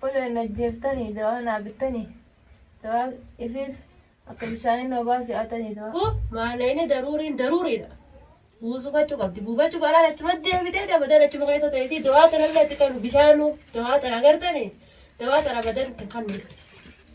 Kun hin ajjeeftanii dawaa naa bittanii dawaa ifiif akka bishaanii noo baasii atanii dawaa. Kun maaleyni daruuriin daruuriidha. Buusuu gochuu qabdi. Buufachuu baanaan achuma deebitee dabadan achuma keessa ta'eetii dawaa tanallee itti kennu bishaanuu dawaa tana agartanii dawaa tana abadan hin kennu.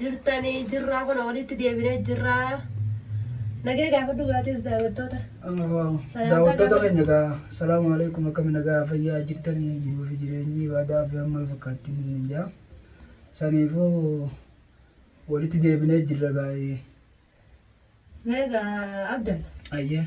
jirtanii jirraa kun walitti deebinee jirraa. Nagee gaafadhu gaatis daawwattoota. Daawwattoota keenya egaa salaamu alaikum akkami nagaa fayyaa jirtanii jiruu fi jireenyi ibaadaa fi amma fakkaattiin isin jaa. Saniifuu walitti deebinee jirra gaa'ee. Meegaa Abdalla. Ayyee.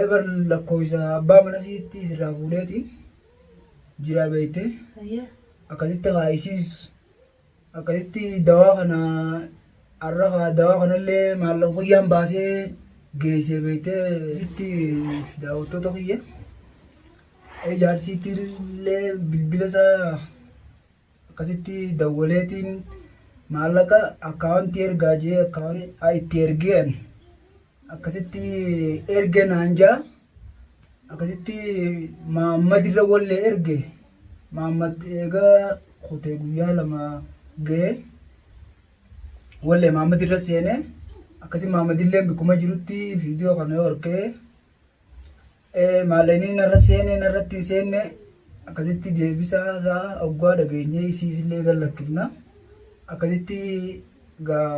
Eebar lakkooysa abbaa mana siitti sirraa fuudheeti jiraa beeyte Ayyee. akkasitti haa isiis akkasitti dawaa kana har'a haa dawaa kanallee maallaqa guyyaan baasee geessee beeyte sitti daawwattoota kiyya ijaarsiitti illee bilbila isaa Akkasitti dawwaleetiin maallaqa akkaawuntii ergaa jee akkaawuntii itti ergeen akkasitti erge naan jaa akkasitti maammad irra wallee erge maammad eegaa kutee guyyaa lama ga'e wallee maammad irra seenee akkasi maammad illee bikkuma jirutti viidiyoo kana yoo argee Maalanii narra seene narratti hin seenne akkasitti deebisaa isaa oggaa dhageenyee isiisillee gad lakkifna. Akkasitti gaa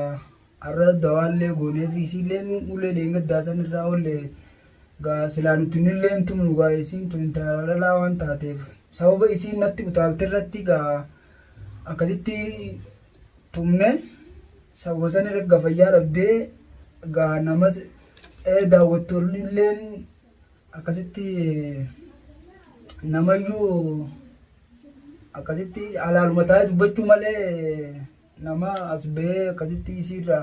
har'a dawaallee goonee fi isiillee ulee dheengaddaa san irraa oollee gaa silaa nuti nillee hin tumnu gaa isiin tun intala dhalaa waan taateef sababa isiin natti utaalte irratti gaa akkasitti tumne sabosan erga fayyaa dhabdee egaa namas ee daawwattoonni illeen akkasitti namayyuu akkasitti alaaluma taa'ee dubbachuu malee nama as ba'ee akkasitti isiirra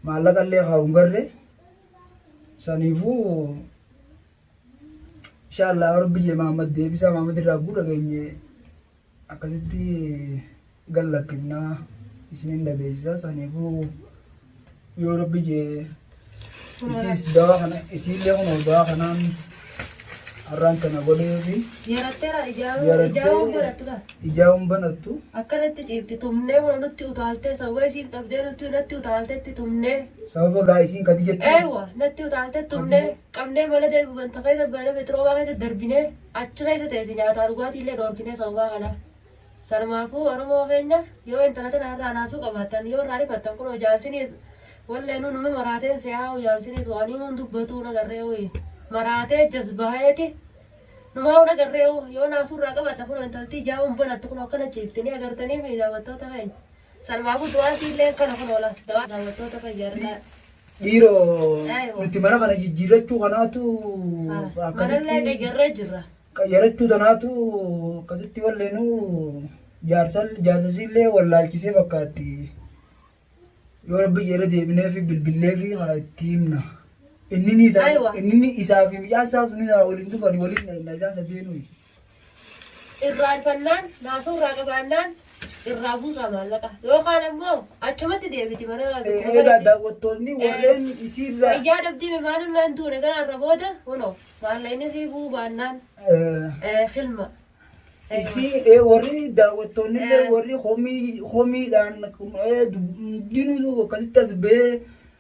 maallaqa illee kaa'u hin garre saniifuu inshaallaa rabbi jee maamad deebisaa maamad irraa guu dhageenye Akkasitti gad lakkifna isiniin dhageessisa saniifuu yoo rabbi jee isiis dawaa kana isiillee kun dawaa kanaan har'aan kana godhee fi Yaratteera ijaaruu Yarattee- ijaaruu godhattu dha. ijaa hin banattu Akkanatti ciifti tumnee waan nutti utaaltee sababa isiin qabdee nutti natti utaaltetti tumnee. sababa gaa isiin kadi jettu Eewa natti utaaltee tumnee qabnee mana deebi'u ganta keessa baana beetiroomaa keessa darbinee. Achi keessa teessi nyaataa dhugaatii illee dhoorkinee sababaa kanaaf. Sanumaafuu Oromoo keenya yoo intala tana irraa naasuu qabaattan yoo irraa rifattan kunoo jaalsiniis walleenuu numi maraateen se'aa'uu jaalsiniis waan himuun dubbatuu nagarree uyi maraatee jasbaa'eeti numaa'uu nagarree u yoo naasuu irraa qabatta kunoo intaltii jaa'uun banatti kunoo akkana ciiftanii agartanii mi daawwattoota keenya. Sanumaafuu du'aatii illee kana kunoo la dawaa daawwattoota keenya irraa. Dhiiro nuti mana kana jijjiirrachuu kanaatu Manallee qayyarree jirra. qayyarachuu tanaatu akkasitti walleenuu jaarsan jaarsasiillee wallaalchisee fakkaatti yoo rabbi jedhe deebinee fi bilbillee fi haa itti himna. Inni isaa Aywa. inni isaa fi mucaan isaa sun isaa waliin dhufan waliin na isaan sadeenuu. irraa arfannaan naasoo irraa qabaannaan irraa buusaa maallaqa yookaan ammoo achumatti deebiti mana Egaa dukkubasaatti daawwattoonni warreen isiirraa fayyaa dhabdii maaliif naan duune kanarra booda kunoo maallaqni sii buu baannaan eh, eh, hilma Eh, isii eh, warri daawwattoonni illee Eh. warri homii homiidhaan eh, dub- hundinuu akkasitti as ba'ee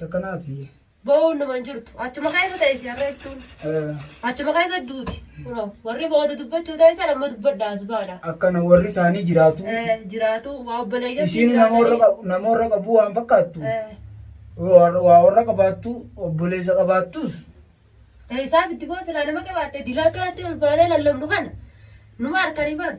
Takkanaati. Bo'oon nama hin jirtu. Achuma keessa ta'e si harreeftuun. Achuma keessa duuti. Kunoo, Warri booda dubbachuu taasisan amma dubbadha as baadha. Akkana warri isaanii jiraatu. Eh, Jiraatu waa obboleeyyan Isiin namoorra qabu- namoorra qabu waan fakkaattu. Waa waa warra qabaattu obboleessa qabaattus. Isaaf itti boosilaa nama qabaatte dilaa kanatti ol baanee lallabnu kana. Numa harkanii baanu.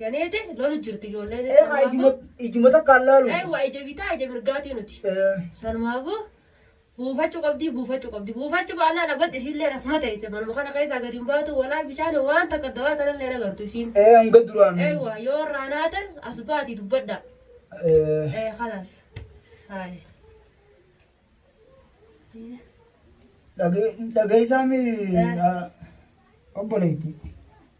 Janeete lolu jirti ijoolleen. Ee haa ijuma ijuma takkaan laalu. Ee waa ija bitaa ija mirgaatii nuti. Ee, Sanumaafuu buufachuu qabdii buufachuu qabdi. Buufachuu baannaan abbatti isiillee rasuma ta'e manuma kana keessaa gadi hin baatu walaa bishaan waan takka dawaa tanallee hin agartu isiin. ee hanga duraan. Ee waa yoo irraa naatan as baati dubbadha. Ee, Ee kalaas. Haaya. dhage- dhageessaami Eh. ah, obboleetti.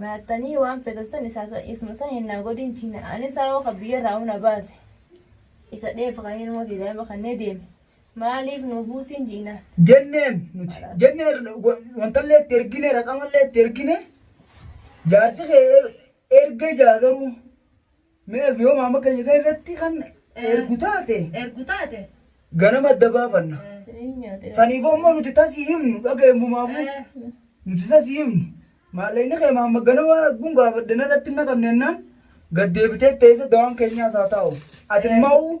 Nyaatanii waan fetan san isuma san hin naa godhin china ani saawoo kan biyya irraa na baase isa dheef kan ilmoo ta'e daa'ima kan ne deeme maaliif nu buusin jiinaan. Jenneen nuti jennee wantallee itti ergine raqamallee itti ergine jaarsi kee erga jaa garuu. Mee Elfi yoo maama keenya san irratti kan Eh. ergu taate Ergu taate. ganama adda baafanna. Eh, Saniin nyaatee. Saniif ammoo nuti tasii himnu dhaga'e mumaafuu. eh, Nuti tasii himnu. Maallaqni kee maamma ganama gun gaafadhe narratti hin naqamne jennaan gad deebitee teessa dawaan keenyaas haa taa'u. Ati Eh. maa'u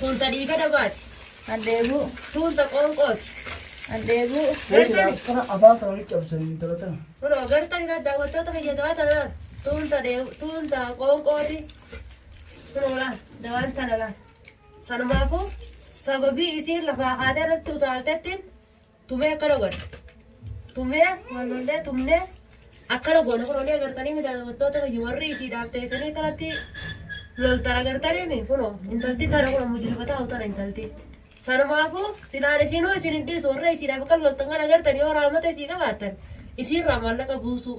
Tun ta dhiiga dabaati. An dheebuu. Tun ta qoonqooti. An dheebuu. Gartani? Akkana afaan kana walitti cabsan intala tana. Kunoo gartani laal daawwattoota kiyya dawaa tana laal. Tun ta dheebuu. Tun ta qoonqooti. Kunoo laal dawaan tana laal. Sanumaafuu sababii isiin lafaa kaatee irratti utaaltettiin Tumee akkana godha. Tumee wal lollee tumnee akkana goona kun olii agartanii miti daawwattoota keenya warri isiidhaaf teessanii kanatti loltan agartanii mi kunoo intalti tana kunoo mujrima taa'u tana intalti. Sanumaafuu silaan isinuu isin hin dhiisu warra isiidhaaf akka loltan kan agartan yoo raamata isii qabaattan isiirraa maallaqa buusuu.